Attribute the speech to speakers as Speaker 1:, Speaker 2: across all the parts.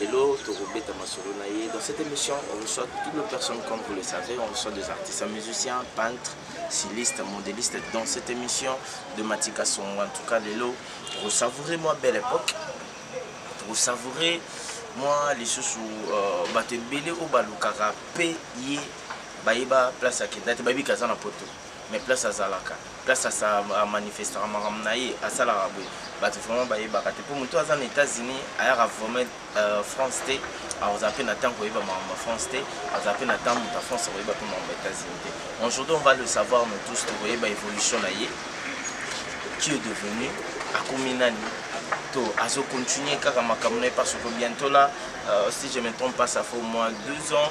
Speaker 1: Lelo tokobeta masolo na ye. Dans cette émission, on reçoit toutes les personnes, comme vous le savez, on reçoit des artistes, musiciens, peintres, stylistes, modélistes. Dans cette émission de Matika Songo, en tout cas, Lelo, vous savourez moi belle époque, vous savourez moi les sous euh, bato ebele oyo balukaka mpe ye bayeba place akenda te bayebi kaza na poto mais place azalaka place asa amanifestaka makambo na ye asalaka boye bato vraiment bayebaka te mpo moto aza na états-unis ayaka vraiment euh, france te akozala mpe na ntango koyeba makambo ya france te azala mpe na ntango moto ya france akoyeba mpe makambo ya états-unis te aujourd'hui on va le savoir nous tous tokoyeba évolution na ye qui est devenu akomi nani to azo continuer kaka makambo na ye parce que bientôt là euh, si je me trompe pas ça fait au moins deux ans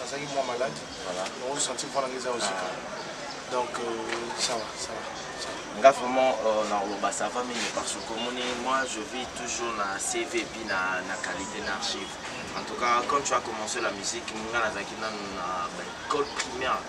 Speaker 2: nazalaki mwa malade yango senti mpo nanga eza osika donc sawa euh, sawa nga vraiment euh,
Speaker 1: nakoloba ça va mingi parce que omoni moi je vis toujours na cv epi na, na qualité na archive en tout cas quand tu as commencé la musique nga nazalaki nanu na baecole primaire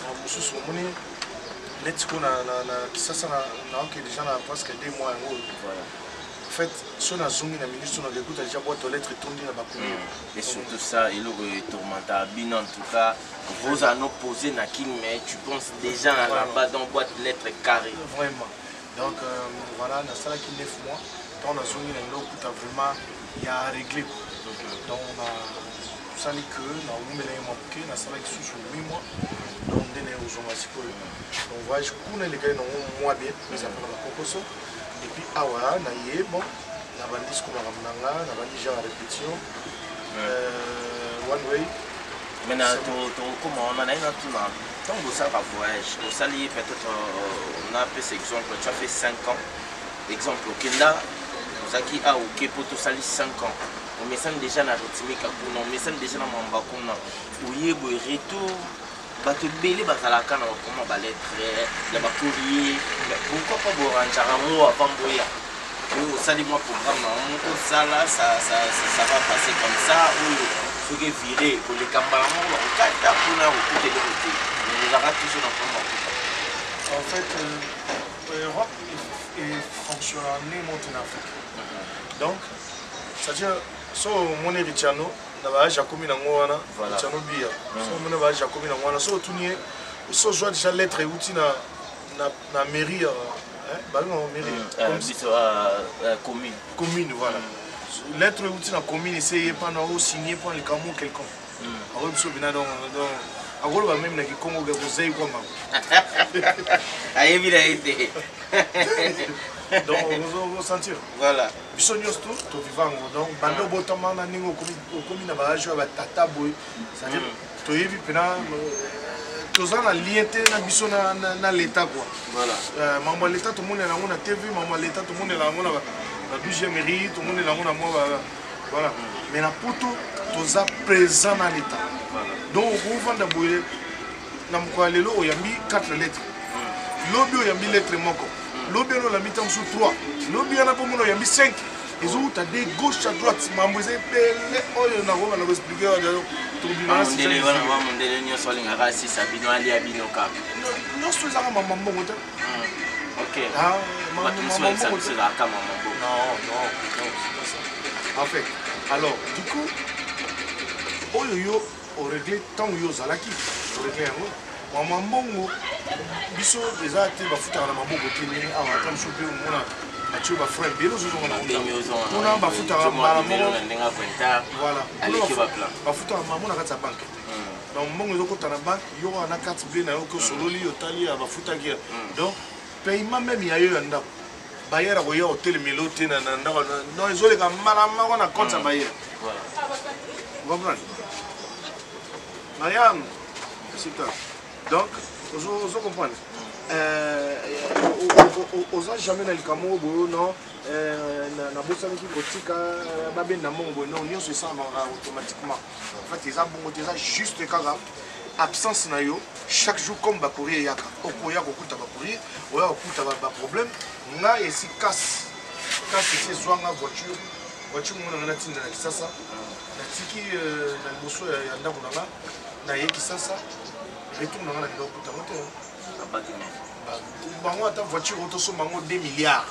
Speaker 2: makambo mosusu omoni neti ko na kisasa naoke deja na presque deux mois yango oyo en fait so nazongi na minute oyo nakekuta deja boite olettre etondi na bakomi hmm. et surtout
Speaker 1: ça eloko etourmenta bino en tout cas vous en opposé na kin mais tu penses déjà na laba donc boite lettre carré vraiment
Speaker 2: donc euh, voilà nasalaki 9 mois ntango nazongi na eloko kuta vraiment ya réglé donc na tosali ke nawumelaki mwa moke nasalaki susu mi mwa donc nde naye kozonga sikoyo donc voyage kuna elekaki nango mwa bien ezalaka na bakokoso epuis awa na ye bon nabandi siko makambo na nga nabandi genre ya répétition euh, one way mena
Speaker 1: tokokoma wana naye natuna ntango bosalaka voyage osali peut-être euh, napesa exemple tu as fait 5 ans exemple okenda ozalaki aoke mpo tosali 5 ans omesani deja na ritmika kuna omesani deja na mwamba kuna oye boye retour bato ebele bazalaka na bakoma baletre ya bakorie pourkoi pa boranjaka yango avant boya oyo osali mwa programme na moko osala ça va passer comme ça oyo soki evire koleka mbala moko bakokata mpona kokuta eloko te ozalaka toujours na mpona bakuta en fait euh,
Speaker 2: europe efonctionna ne moto na afrique donc so omoni erichano na baage akomi nango wana erichano biya hmm. so omoni baage akomi nango wana so otuni ye so ozwa deja lettre euti na, na, na mairie eh, balingao mairie hmm, eh, eh,
Speaker 1: commune commune voilà
Speaker 2: hmm. lettre euti na commune ese ye mpana osigne mpo na likambo quelconque akoy biso bina donc akoloba meme na kikongo ke kozei kwa mbango
Speaker 1: ayebi na ye te
Speaker 2: donc ozosentir voilà biso
Speaker 1: nyonso to
Speaker 2: toviva yango donc banda obotama na ndenge okomi na baage oyo batata boye cetadire mm. toyebi mpena toza na lien te na biso na leta kua euh, mambo ya
Speaker 1: leta tomonela
Speaker 2: yango na tv mambo ya leta tomonela yango na 12e mairie tomonela yango na mwa voilà mais na poto toza présent na leta donc okofanda boye na mokolo ya lelo oyambi 4 lettre lobi oyambi lettre moko lobi wana olambi ntango mosusu 3 lobi wana mpo mona oyambi 5 ezowuta de gauche à droite mambo eza ebele oyo nakoba na koexplike tokobimamundele nyonso alingaka
Speaker 1: asisa bino alia bino kaka nyonso ezaka
Speaker 2: mama mbongo te en fait alors du coup oyo yo o regle ntango yo ozalaki o regle yango mwa mwa mbongo biso eza te bafutaka na maboko te ndenge awa ata mosusu mpe omona batio bafrai ebele ozozonga na kuna bafutaka mbala moko voilà
Speaker 1: bafutaka mamo na kati ya
Speaker 2: banke donc mbongo ezokota na banke yo wana na carte ble na yo oke osololi otali ya bafutaki donc paiement meme ya yo ya ndako Bayer akoya otelemela yo te na ndako non ezoleka mbala moko na compte ya mm. bayer comprendre mariam sita donc ozo comprendre oza jamais na likambo oyo boyo non nabosanaki kotika babenda mbongo boye non nyonso esalamaka automatiquement en fait eza bongo te eza juste kaka absence na yo chaque jour comme bacourrier eyaka okoya kokuta bacourrier oya kokuta baproblème nga esi kasi kasi esi ezwanga voiture voiture moko nanga natinda na kisasa natiki euh, na liboso ya ndako na nga naye kisasa retour nanga na biloko kutango te bango ata voiture otosomba yango 2 milliards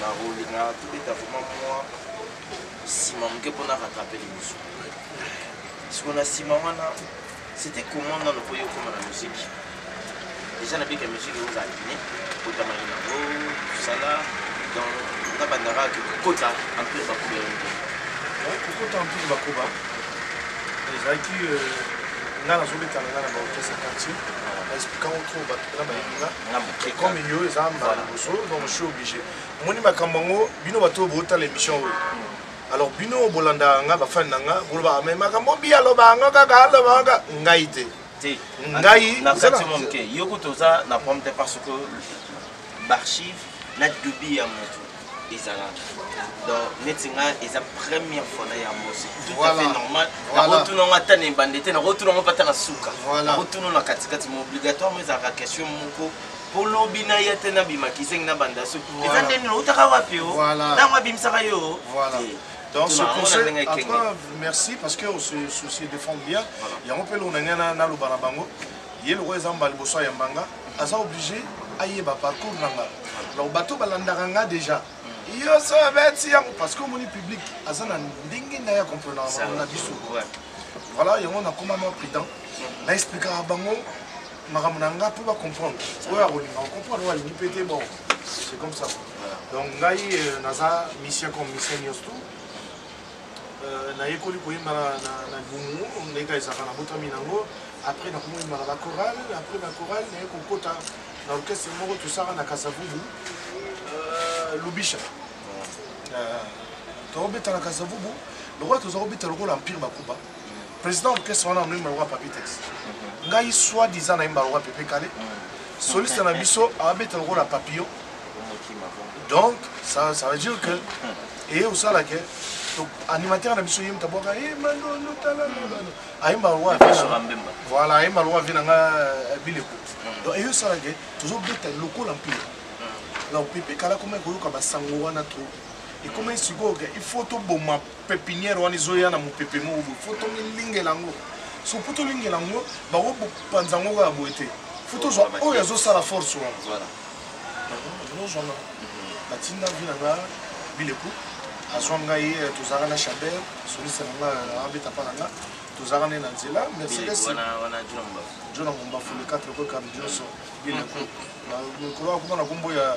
Speaker 1: Nakolingaka tobeta vraiment mwa nsima moke mpo na rattrape liboso siko na nsima wana c'était comment nano mpo yo okoma na muziki déjà nabika muziki ozala guine kotamaki nango kosala donc nabandaka kokota empire bakuba yango te
Speaker 2: kokota empire bakuba ezalaki euh, nga nazobetana nga na baorchestre quartier na explikango trop bato na bayebi nga Et comme il y a ça, donc je suis obligé. Moi, je suis bino bato bota l'émission oyo. Alors bino bolanda nga ba fan nga boloba mais makambo bi aloba nga kaka aloba nga ngai te. Te. Ngai
Speaker 1: na kati mon ke. Yoko toza na problème parce que l'archive na dubi ya moto. ezala donc neti nga eza première fois na ya mosi tout à fait normal nakotuna ngo ata na ebande te nakotuna ngo mpe ata na suka nakotuna na katikati ma obligatoirement ezalaka question moko mpo lobi na ye te nabima kizengi na banda su eza nde nini outaka wapi o ntango abimisaka yo Donc,
Speaker 2: ce conseil, en tout cas, merci parce qu'on se soucie de fond bien. Il y a un peu l'on a n'a l'obanabango. ye lokola eza mbala liboso ayamba nga aza oblige ayeba parcours na nga donc bato balandaka nga déjà yo so abeti yango parce que omoni public aza na ndenge na ya comprenaka na biso voilà yango nakoma mwa prudent mhm. na explikaka bango makambo na nga mpo bacomprendre oyo akolinga ocomprendre oyo alingi mpe te bon c'est comme ça donc ngai euh, naza mission comme mission nyonso tout Euh, nayekoli koyemba na libumu ndenge kaka ezalaka nabotami nango après nakomoyembaka na chorale après na chorale naye kokota na orchestre moko tosaka na kasavubu euh, lubisha euh, tokobeta na kasavubu lokola toza kobeta lokola empire bakuba président orchestre wana anoyemba lokola papitex ngai soit disant nayemba lokola pepe kale soliste na biso abeta lokola papillon donc ça, ça veut dire que eye osala ke animateur na biso yemta bwaka e mandondo talalabano ayemba lokola voilà ayemba lokola vie na nga euh, bileko hmm. donc eye osala ke tozobeta lokola mpila hmm. donc pepe kala koma ekoyoka basango wana trop ekomai sikoyo ke il faut toboma pepinière wana ezoya na mopepe moko boye fo tomilingela yango soki mpo tolingela yango bakopanza yango kaka boye te fo tozwa oyo azosala force wana ozwanga batinda vi na nga bileku azwa ngai eh, tozalaka na chaber soliste na nga eh, abeta mpa na nga tozalaka nde na nzela mercedes
Speaker 1: jona
Speaker 2: mombafu le 4 koekami nyonso bileku mikolo akoma na kombo ya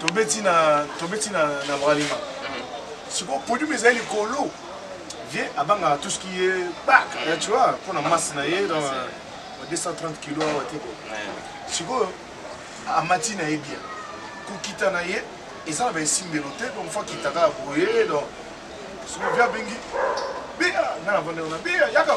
Speaker 2: tobeti na tobeti na na bralima siko podium ezali likolo vie abangaka tout ce qui est bak eh, tu vois mpo na masse na ye dans 230 kilo awa te sikoyo amati na ye bien kokita na ye eza na baesimbelo te donc fo akita kaka boye donc soki vie abengi bia nga na vandelo na bia yaka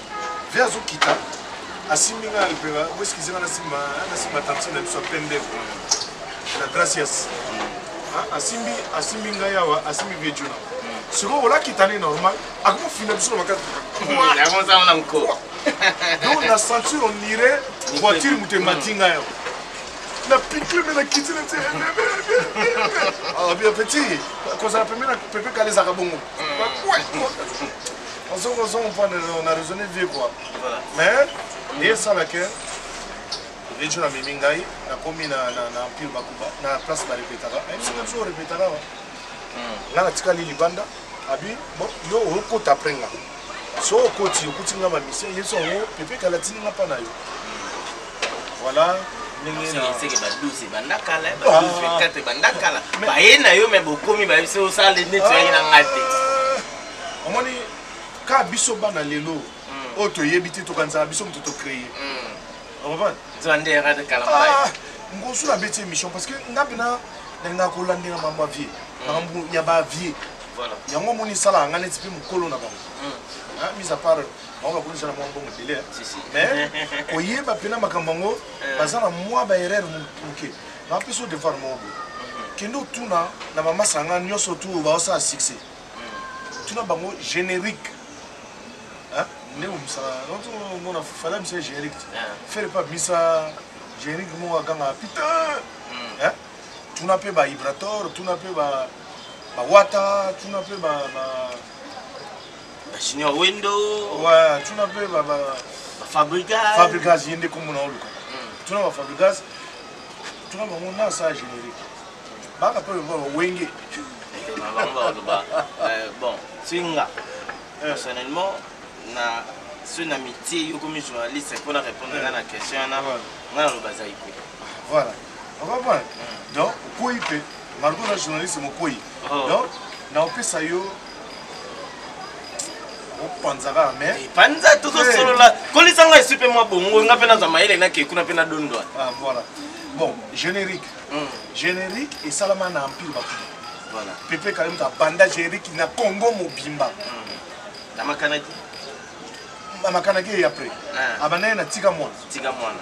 Speaker 2: Ve azo kita asimbi nga lipeka bo eskize nga nasimba nasimba tantine na biso ya pembe na gracias asimbi asimbi ngai awa asimbi vie juna sikoyo olakita ne normal akomofina biso na makati donc
Speaker 1: na
Speaker 2: sentir on irait voiture moto emati ngai awa na pikle me na kiti na petit kozala pembe na pepe kala ezaka bongo ozongo ozongo mpo na raisonne vie quoi mais eye esala ke vejo na mimi ngai nakomi na empire bakuba na place barepetaka ayebisi nga biso orepetaka wa nga natikali libanda abi bon yo okota apres nga so okoti okuti nga bamisie yesu yango pepe kala tini nga mpa na yo voilà
Speaker 1: baye na yo me bokomi bayebi se osala neti oyangi na nga te
Speaker 2: omoni ka biso bana lelo hmm. oyo toyebi te tokanisaka biso moto tocreye
Speaker 1: ngosu nabeti
Speaker 2: émission parce que nga mpena nalingaka kolandela mambo ya vie hmm. makambo ya bavie yango omoni
Speaker 1: esalaka nga
Speaker 2: neti mpe mokolo na bango hmm. mise à part bango bakomisa na mwa mbongo ebele mais koyeba mpena makambo yango eh. baza na mwa baerreur moke napesa devoir moko boye kende otuna na bamasanga nyonso tu baosala succès tuna bango générique hein? nde komisa nazomona fala bisa générique te fere mpe abimisa générique moko akanga putain hmm. tuna mpe ba ibrator tuna mpe ba bawata tuna mpe ba
Speaker 1: junior wendo ouais tuna mpe
Speaker 2: ba fabrigas
Speaker 1: fabrigas ye nde
Speaker 2: komona oluka hmm. tuna ba fabrigas tuna bango nasa générique baka to lomba ba wenge na
Speaker 1: bango ba loba euh, bon singa eh. personnellement na soki na mitie yo komi journaliste mpo na répondre nga na eh. question wana nga naloba azali
Speaker 2: ko voilà okomprendre hmm. donc okwei mpe margo na journaliste mokwei oh. donc naopesa yo opanza kaka mais eh, panza tozosolola
Speaker 1: eh. kolisa ngai esu mpe mwa bongo nga mpe nazwa mayele nakei kuna mpe nadondwa ah, voilà
Speaker 2: bon générique mm. generique esalama na empire bakuna voilà. pepe
Speaker 1: kale moto abanda
Speaker 2: generique na congo mobimba mm.
Speaker 1: na
Speaker 2: makanaki makanaki ye après ah. abanda ye na tika mwana tika mwana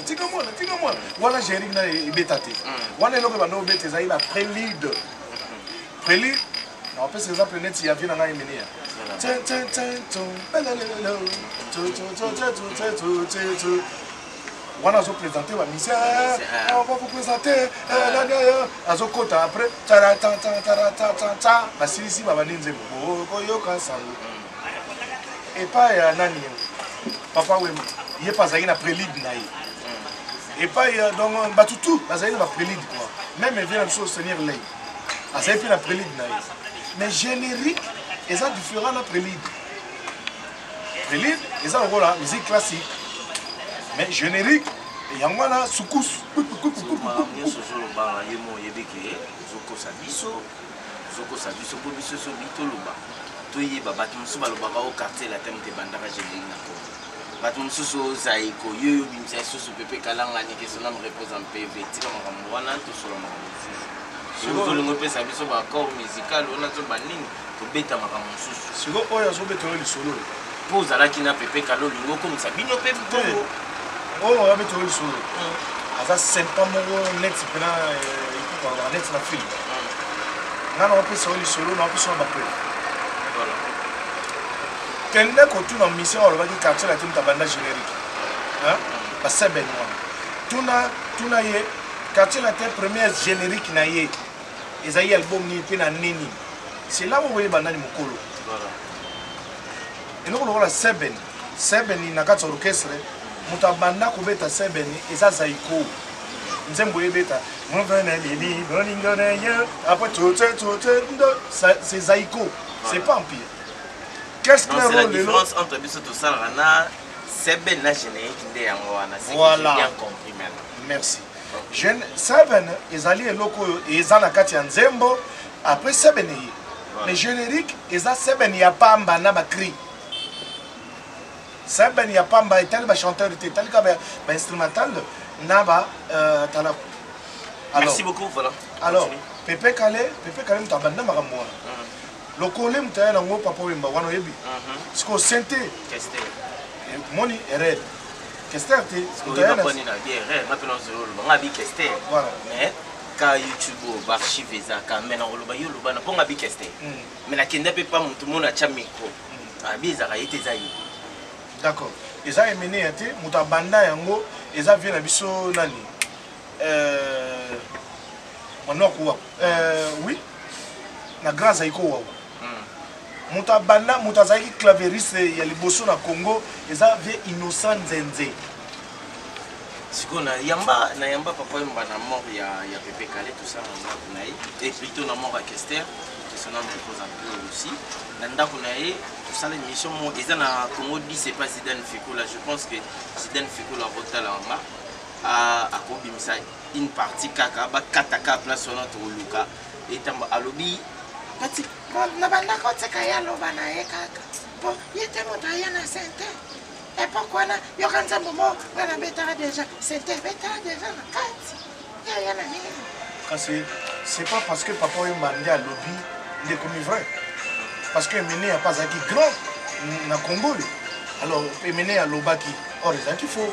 Speaker 2: tika mwana tika mwana wana generique na ebeta te mm. wana eloko ebanda obeta ezali na prélude prélude naopesa exemple neti ya vie na ngai minia wana azo présente ba mise on va vous présenter azokota après taratatataratata basilisi babandi nzembo bokoyoka sango epai ya nani papa wema ye mpe azalaki na prélide na ye epai donc bato tout bazali na baprélide kua meme vie na biso seigneur lei azali mpe na prélide na ye mais générique eza différent na prélide Prelude eza lokola musique classique mais générique yango wana sukusu ozolobaa ye mo oyebi ke ozokosa biso ozokosa biso mpo biso so bitoloba toyeba bato mosusu balobaka o quartier latin moto ebandaka générique na kongo bato mosusu ozaiko yo yo obimisa lisusu pepe kalangani kesonam repose en pv tika makambo wana tosolola makambo mosusu ozolingo opesa biso baaccord musical wana to banini tobeta makambo mosusu siko oyo azobetela lisolo mpo ozalaki na pepe kala olingi okomisa bino mpe bongo oyo abetela lisolo hmm. aza sempa moko neti mpena eh, ekokanga neti na filme hmm. nga na opesa yo lisolo na opesa yo bapele kende kotuna mission alobaki quartier latin tabanda générique hmm. basebeni wana tuna tuna ye quartier latin première générique na ye ezali album nini mpe na nde nini sela okoyeba nani mokolo eloko lokola seben seben na kati ya orchestre moto abanda kobeta seben eza zaiko nzembo ebeta après c'est zaiko c'est pas empire qu'est-ce que la différence entre biso tosalaka na seben na générique nde yango wana voilà. bien
Speaker 1: compris maintenant merci
Speaker 2: Jeune Seven ezali eloko oyo eza na kati ya nzembo après Seven eye mais générique eza Seven ya pamba na ba cri Seven ya pamba etali ba chanteur te etali ka ba, ba instrumental na ba euh, talaku alors,
Speaker 1: Merci beaucoup, voilà. alors Pepe
Speaker 2: Kale Pepe Kale moto abanda makambo wana lokole moto aya na ngo papa wemba wana oyebi sikoyo sente
Speaker 1: moni
Speaker 2: red kester te
Speaker 1: ka youtube oyo baarchive ezaka mai nakoloba yo oloba na mpo nga bikester mai nakenda mpe pa motu mona atya micro abi ezaka ye te eza ye d'accord
Speaker 2: eza emene ya te moto abanda yango eza vie na biso nani euh, manoko wa euh, oui na grand zaiko wa hmm. moto abanda moto azalaki claveriste ya liboso na congo eza vie innocent nzenze
Speaker 1: sikoyo na yamba na yamba papa yomba na mort ya, ya pepe kale tosa na ndako na ye e plutôt na mort ya kester kesona mokoza mpe aussi na ndako na ye tosala émission mo eza na congo di c'est pas zidane fikula je pense que zidane fikula akotala yanga akobimisa une partie kaka bakata kaka place wana tokoluka etambo alobi pati nabandaka otika ye aloba na ye kaka po ye te moto aya na sente epoke wana yoka nzambo mo nga nabetaka deja sente ebetaka deja na kati yaya na nini kasi c'est pas
Speaker 2: parce que papa oyo mbandi alobi nde ekomi vrai parce que emene ya pa azalaki grand na congo oyo alors emene alobaki or ezalaki faux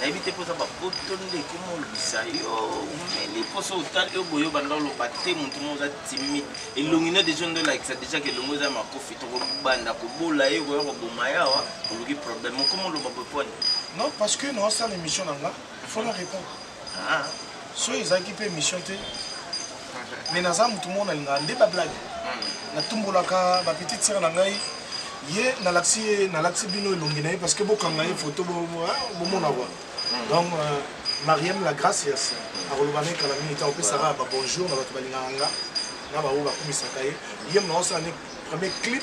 Speaker 1: nayebi te mpoza bapoto nde ekomolobisa yo omeli mposo otali yo boye obanda oloba te motu mo oza timide elongi no deja nde olakisa deja ke elongi oza ya makofi tokobanda kobola ye koya koboma ye awa oluki problème okomoloba boponi non parce que
Speaker 2: naosala émission na nga fona répondre ah.
Speaker 1: soki ezalaki
Speaker 2: mpe émission te mais naza motu moko nalingaka nde bablage natumbolaka bapetite sere na ngai ye nalakisi ye nalakisi bino elongi na ye parce que bokanga ye foto bomona kua donc euh, mariam la gracias akoloba na ye kala mingi ntango opesaka babonjour na bato balingaka nga na baoyo bakumisaka ye ye mona osala ne premier clip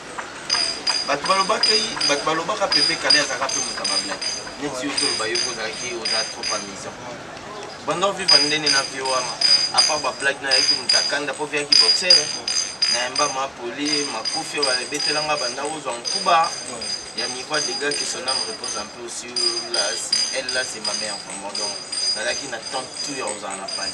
Speaker 1: bato balobaki bato balobaka pepe kale azalaka mpe moto ya bablaki neti yo toloba yo mpe ozalaki oza trop amusant banda ovivre ndene na vie wana apart bablaki na yaki moto akanda mpo viaki boxer na yamba mapoli makofi oyo babetelanga banda ozwa nkuba ya niveau ya dega que son ame repose un peu sur la elle là c'est ma mère vraiment donc nazalaki na temps tout ya kozala na pali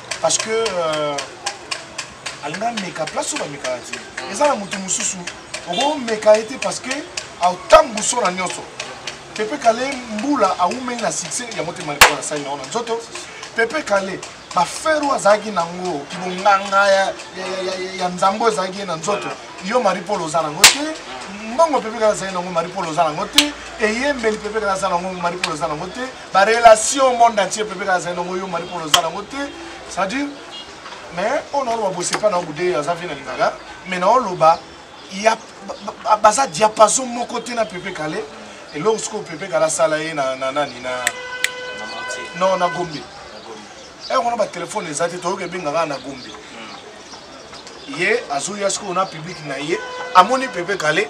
Speaker 2: parce que euh, alinga ameka place oyo bamekaka te eza na moto mosusu okomeka ye te parce que aotambu so na nyonso pepe kale mbula awumeli na succès ya motema likolo na sani na ona nzoto pepe kale bafere oyo azalaki nango kibonganga ya, ya, ya, ya, ya nzambe oyo ezalaki ye na nzoto yo marie paul oza nango te mbongo pepe kale azalaki nango marie paul oza nango te eyembeli pepe kale aza nango marie paul oza nango te ba relation monde entier pepe kaka zali nango yo mari polo oza nango te c'est-à-dire mais oyo naoloba bosepa na obude aza vie na lingaka mais naoloba ya baza diapason moko te na pepe kale eloko sikoyo pepe kale asala ye na nani na non na gombe ere wana batelefone eza te toyoki ebenga kaka na gombe hmm. ye azoya sikoyo na publike na ye amoni pepe kale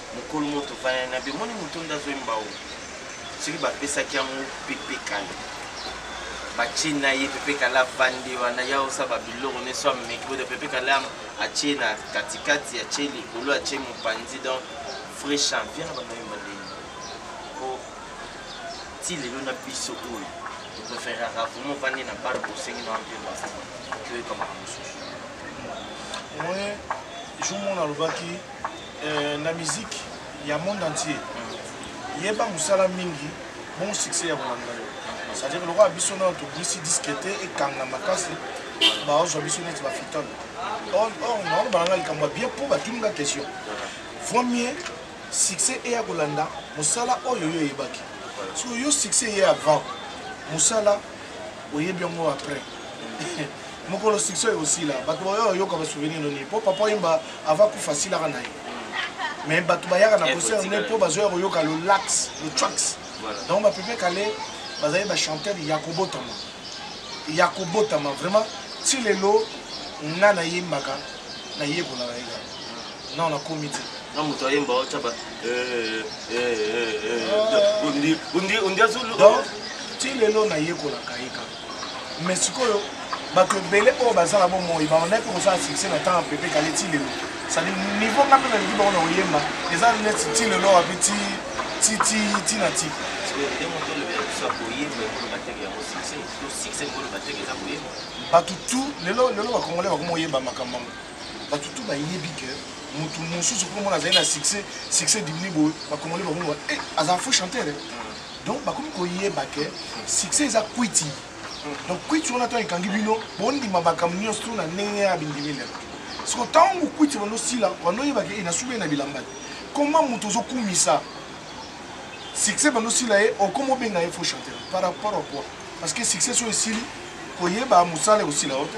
Speaker 1: mokolo moko tofandani na be moni moto nde azwi mbao soki bapesaki yango pepe kala batie na ye pepe kala avandi wana ya osaba biloko neso ameki boda pepe kala atie na katikati atie likolo atie mopanzi donc vrai champion na bamai mandenge po ti lelo na biso oyo topreferaka vraimen ovandi na bale bosengi na wampe basta toyekamaka mosusu
Speaker 2: jour mona alobaki Euh, na musique ya monde entier yeba mosala mingi bon succès ya kolanda yo c'est-à-dire lokola biso nayo tobimisi diske te ekanga makasi baozwa biso neti bafitale or naolobana nga likambo ya bien mpo batuni nga question vaut mieux succès eya kolanda mosala oyo yo eyebaki so yo succès eye avant mosala oyebi yango après mokolo succès oyo osila bato baoyo oyoka basouvenir no nini mpo papa oyemba ava kufa asilaka na ye mais bato bayaka na concert nde mpo bazoya koyoka le lax le trax donc bapepe kale bazali bachanteur ya kobotama ya kobotama vraiment ti lelo nga nayembaka nayekolaka ye kaka non nakomi te
Speaker 3: donc ti
Speaker 2: lelo nayekolaka ye kaka mais sikoyo bato ebele oyo baza na bomoi baonai mpe kosala succès na ntango pepe kale ti lelo sadi niveau nga mpe nalingi bango na koyemba eza neti ti lelo wapi ti ti ti ti na ti bato tu lelo lelo bakongole bakoma oyeba makambo yango bato to bayebi ke moto mosusu mpo mona azali na succès succès dimini boye bakongoli bakomoba e eh, azala faux chanteur eh. donc bakomi koyeba ke succès eza kwiti donc kwiti wana ntango ekangi bino bondima makambo nyonso to na ndenge ya bindimi lelo siko ntango kwiti wana osila wana oyebaki e nasuki na bilamba te koma moto ozokumisa succès bando osila ye okoma obenga ye faux chanteur par rapport à quoi parce que succès so esili koyeba mosala ekosila yo te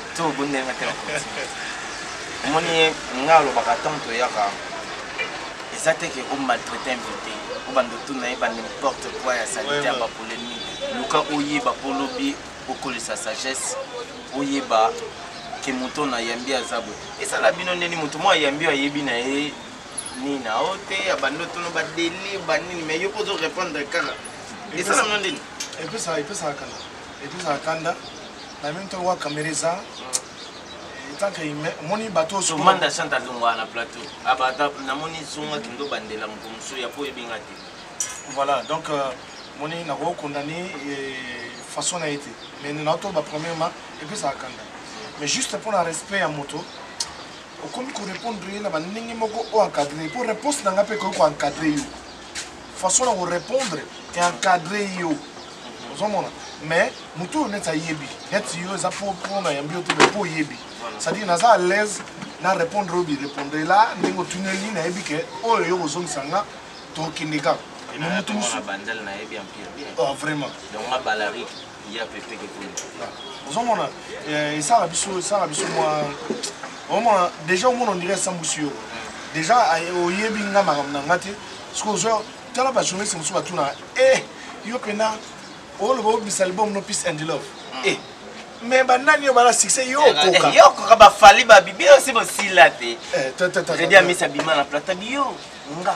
Speaker 1: to obondeli nga te na continue omoni ye nga alobaka ntango toyaka eza te ke omaltraite invité obanda otuna ye ba n'importe quoi ya salite ya bapolémique luka oyeba mpo lobi okolisa sagesse oyeba ke moto na yambi aza boye esala bino ndeni moto mwa yambi ayebi na ye nini na o te abandi otono badelire banini mai yo mpo ozo répondre kaka esala bino ndeni epesaka
Speaker 2: kala epuis ozala kanda na meme temps wa kamera eza etanke humain omoni bato osomanda chante alongwaa
Speaker 1: na plateau abata ah, namoni zonga kindo bandela moto mosusu ya po oyebinga te voilà donc
Speaker 2: euh, moni nakoki condamne façon na ye te mais naotoba premièrement epuis ezala kanda mais juste mpo na respect ya moto okomi korépondre ye na bandenge moko oyo encadre mpo réponse na ngai mpe ekoki koencadre yo façon na ko répondre et encadrer yo ozomona mais motu oyo neti ayebi neti yo eza po po na yambi yo te mais po oyebi c'est-à-dire naza à l'aise na répondre oyo birépondre la ndenge otuneli nayebi ke oyo yo kozongisa nga tokende kaka motu mosusu
Speaker 1: vraiment ya pepe kekuni ozomona
Speaker 2: eh, esala biso esala biso mwa omona déjà omona ondire esambwisi yo déjà oyebi nga makambo na nga te soki ozo tala bajournaliste mosusu batuna e yo mpena oloba obisa libom no peace and love e eh, me banani yo bala succès yo okoka eh, yo okoka bafali
Speaker 1: babibi yo si bosila te tata misa bima na plata biyo nga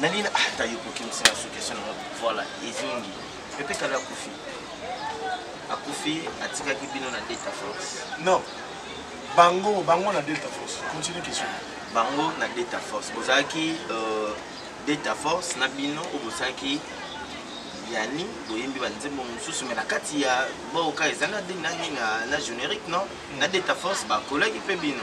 Speaker 1: nalina ata ah, yokokimisi na sukesio nango voilà ezongi pepe kala akufi akufi atikaki bino na delta force non
Speaker 2: bango bango na delta force continue question bango na
Speaker 1: delta force bozalaki euh, delta force na bino oyo bozalaki yani boyembi banzembo mosusu me na kati ya boka eza na nani na générique non na delta force bakolaki mpe bino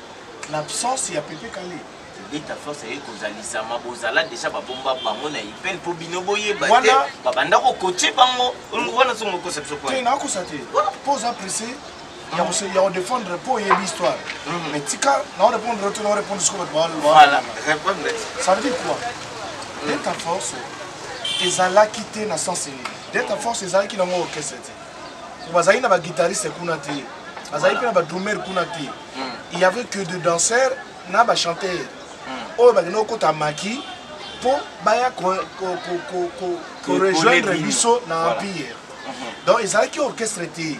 Speaker 2: L'absence ya Pepe Kale. Beta force aye
Speaker 1: kozalisama bozala deja babomba bango na ipel mpo bino boyeba te Wana- babanda kokoce bango olongo
Speaker 2: wana
Speaker 1: songo okosa
Speaker 2: biso
Speaker 1: te kwana nakosa
Speaker 2: te
Speaker 1: mpo
Speaker 2: oza
Speaker 1: presse
Speaker 2: ya kose- ya kodefendre mpo oyebi histoire Mhm. mais tika naorépondre yo te naorépondre siko bato ba- ba- voilà répondre
Speaker 1: ça veut dire quoi
Speaker 2: delta force ezalaki te na sens nini delta force ezalaki nango orchestre te bazalaki na baguitariste kuna te bazalaki mpe na badrumer kuna te il y avait que de danseurs na ba chanteur hmm. oyo bakenda kokota maki mpo baya korejoindre biso na empire hmm. donc ezalaki orchestre te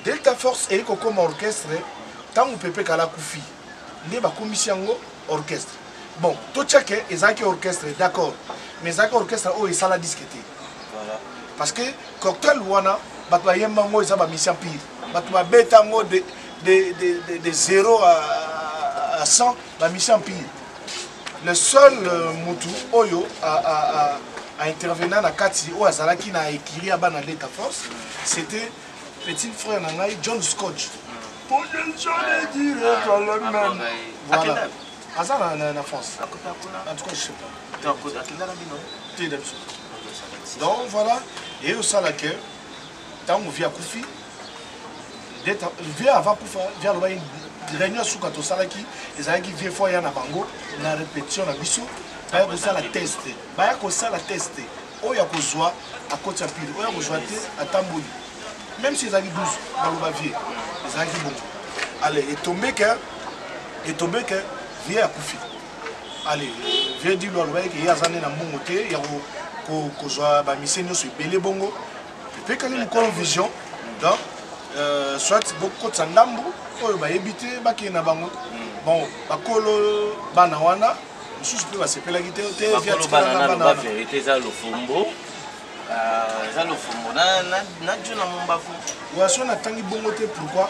Speaker 2: delta force eye kokoma orchestre ntango pepe kala kufi nde bakomisi yango orchestre bon totyake ezalaki orchestre d'accord mais ezalaki orchestre oyo esala diske te parce que cocktail wana bato bayemba yango eza bamisi empire bato babeta yango de, de, de, de 0 à, à 100 bamisi empire le seul euh, mutu oyo a, a, a, a intervena na kati oyo azalaki na ekiri ya bana leta force c'était petit frère na ngai john scotch voilà aza na, na, na france en tout cas je sais pas te na biso donc voilà eye osala ke ntango vi akufi vie avant kufa vie alobaki réunion ya suka tosalaki ezalaki vie fo aya na bango na répétition na biso baya kosala test baya kosala test oyo akozwa akoti ya pile oyo akozwa te atamboli même si ezalaki 12 baloba vie ezalaki bongo ale etombe ke etombe ke vie akufi ale vie dilo alobaki ke ye aza nde na mbongo te ya kozwa bamise nyonso ebele bongo epekani mokolo vision donc euh, soit bokotisa ndambu oyo bayebi te bakei na bango bon bakolo bana wana mosusu mpe basepelaki te te verité eza lofombo euh, eza lofombo
Speaker 1: na juna mombafu
Speaker 2: waso natangi bongo te pourquoi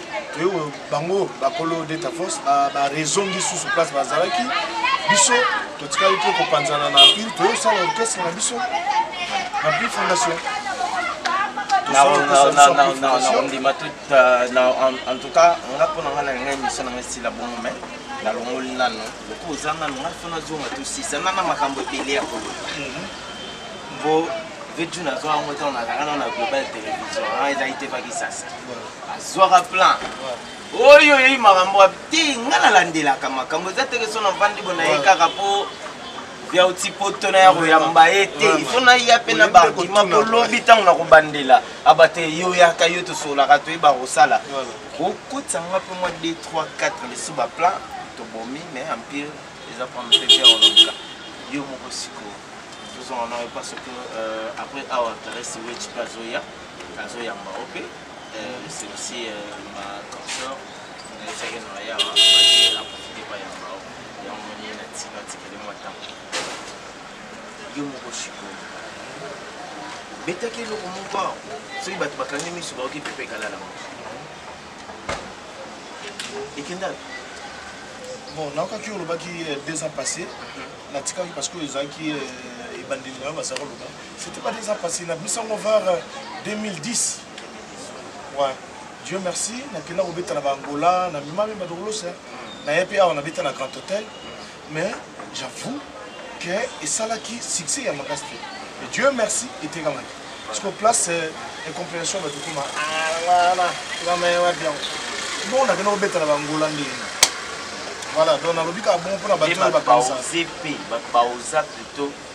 Speaker 2: toyo bango bakolo deta force barezongi susu place bazalaki biso totikali te kopanzana na mpile toyosala orchestre na biso na mpile fondation ondima
Speaker 1: en tout cas nga mpo na nga na ngai miso na ngai sila bongo mai nalongoli nano loko oza nano ngai mpo nazonga tosisa na na makambo ebele ya koloba mpo mhm. vedju nazwa yango ntango nazalaka nano na global télévision ezalaki te pakisasa azwaka plan oyo oyei makambo te ngai nalandelaka makambo eza teke so navandi bo na ye kaka mpo ya otipoto na ya koyamba ye te ifo naya mpe na baargument mpo lobi ntango na kobandela aba te yo oyaka yo tosololaka toyeba kosala okotisa nga mpe mwa 2 3 4 lisu baplan tobomi mais empire eza prendre plaisir olonga yo moko sikoyo tozonga na yo parce que euh, après awa teresi wechi mpe azoya azoyamba yo mpe yo moko sikoyo betaki eloko moko awa soki bato bakangi miso baoki pepe ekalala moko ekenda
Speaker 2: bon naokaki olobaki euh, deux ans passé mhm. natikaki parce que ezalaki euh, ebandeli na yo bazalaki oloba C'était pas déjà passé na biso ngo vers 2010. Euh, ouais. Dieu merci, na kenda ko beta na ba Angola, na mimami ba dolos. Na yepe awa na beta na Grand Hôtel. Mais j'avoue que et ça là qui succès ya makasi. Et Dieu merci était quand même. Parce qu'au place euh, et compréhension ba tukuma. Ah voilà, la meilleure bien. Bon, na kenda ko beta na ba Angola ndenge. Voilà, donc nalobi ka bon pour na bato bakanisa. Baoze pe,
Speaker 1: baoza plutôt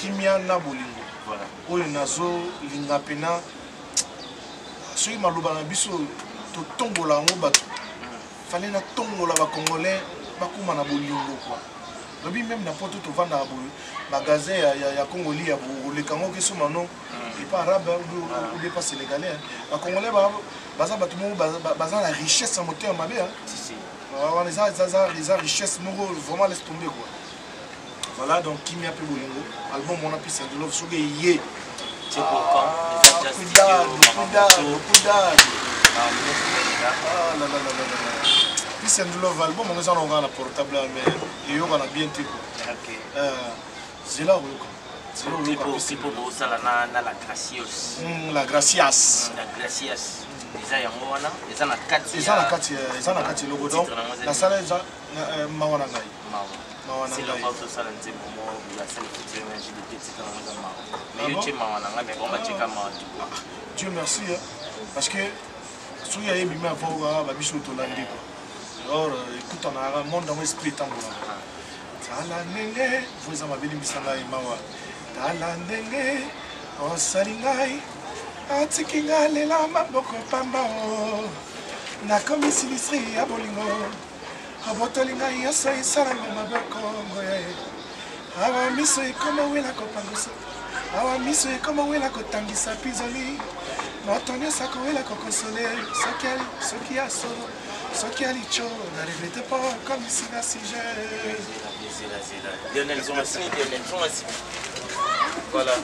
Speaker 2: kimia na bolingo voilà. oyo
Speaker 1: nazolinga
Speaker 2: mpena soki maloba na biso totombola yango bato fale natombola bacongolais bakóma na bolingo kua lobi meme na poto tovandaka boye magasin ya, ya, ya congoli ya oleka yango keso mano mm. epa arabe obi epa sénégalais bacongolais baza bato moko baza na richesse ya motema mabe
Speaker 1: wana
Speaker 2: eza richesse moko vraiment laisse tombe kua voilà donc kimia mpe bolingo album wana peace and love soki eye peace and love album yango eza na okaa na portable ya mais eyokana bien te ko
Speaker 1: euh, zela
Speaker 2: oyoka pipo bosala na la
Speaker 1: gracios hmm, la gracias hmm, la gracias
Speaker 2: eza yango
Speaker 1: wana eza na kati eza na kati eza na kati
Speaker 2: eloko donc nasala eza Eh, mawa na ngai mawa na ngai
Speaker 1: osala nzembo mo ya selfie na jdt tika na nga mawa mais yo tie mawa na ngai mais bonga tika
Speaker 2: mawa tu ah, ah, dieu merci parce que soki ya ebimi avant okaa babiso tolandi kua alors euh, ekutanaka monde yango esprit etambolaka tala ndenge vo eza mabe limbisa ngai mawa tala ndenge osali ngai atiki ngai lela maboko pamba o oh. nakomi sinistre ya bolingo abotoli ngai yoso esalanga mabe kongo ya ye awa miso ekoma wela kopangusa awa miso ekoma wela kotangisa pizoli moto nyonso akowela kokonsole soki ya solo soki ya lico na regrete mpo okomisi na sujet Voilà.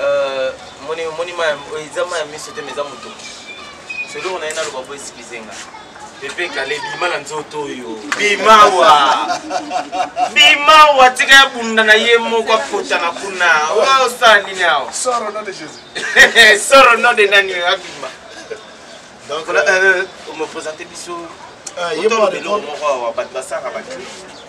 Speaker 1: Euh, moni moni ma eza ma miso te mais eza moto seloko na ye naloba po excuse nga pepe kale bima na nzoto oyo bimawa bimawa tika ya bunda na ye moko akotana kuna oya osala nini awa soro no de
Speaker 2: jésus soro no de nani
Speaker 1: oyo abima donc omopresente euh, euh, biso otombelo moko awa bato basalaka baclip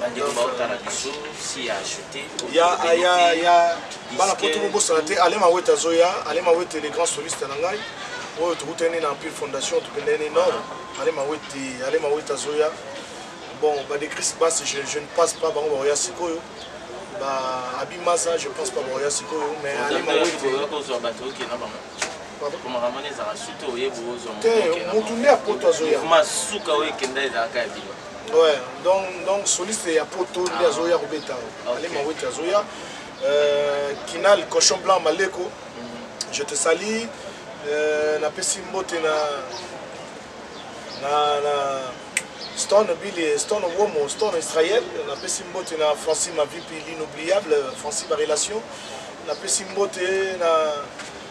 Speaker 1: bandeko baotala biso si ya achete ya ya
Speaker 2: ya bana poto bobosana te ale mawete azoya ale mawete le grand soliste na ngai oyo tokutani na empire fondation tokendani nord ale mawete ale mawete azoya bon badecris basi je, je ne passe pas bango baoya sikoyo ba abi maza je pense pas baoya sikoyo mais ale mawete te motu nde apoto azoya masuka oyo ekenda ezalaka ya bino Ouais, donc, donc soliste ya poto nde ah. azoya kobeta ale mawete azoya euh, kinal cochon blanc maleko mm. je te sali euh, napesi mbote na na, na stone bile stone womo stone israel napesi mbote na francis mavipi l'inoubliable francis barelation napesi mbote na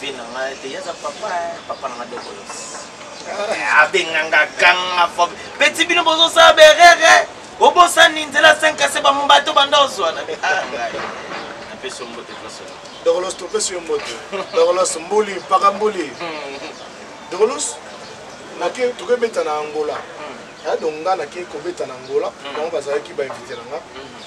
Speaker 1: vie na ngai te yaza papa eh, papa na ngai dokolos eh, abenganga ganga fobe peti bino bozosala berere obosani nzela 5 ase bambato banda ozwa na ah, ngai napesi ombote tosona dokolos topesi yo
Speaker 2: mbote dokolos mbuli mpaka mbuli dokolos tokebeta na angola hmm. ado nga nake kobeta na angola hmm. bango bazalaki bainvite na nga hmm.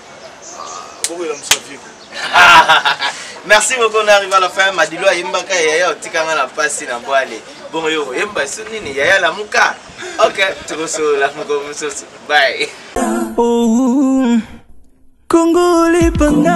Speaker 1: merci beaucoup na arrive à la fin madilo ayembaka yaya otikanga na mpasi na bwale bongo yo oyemba so nini yaya lamuka ok tokosolola moko mosusu bye oh,
Speaker 4: kongo lipanda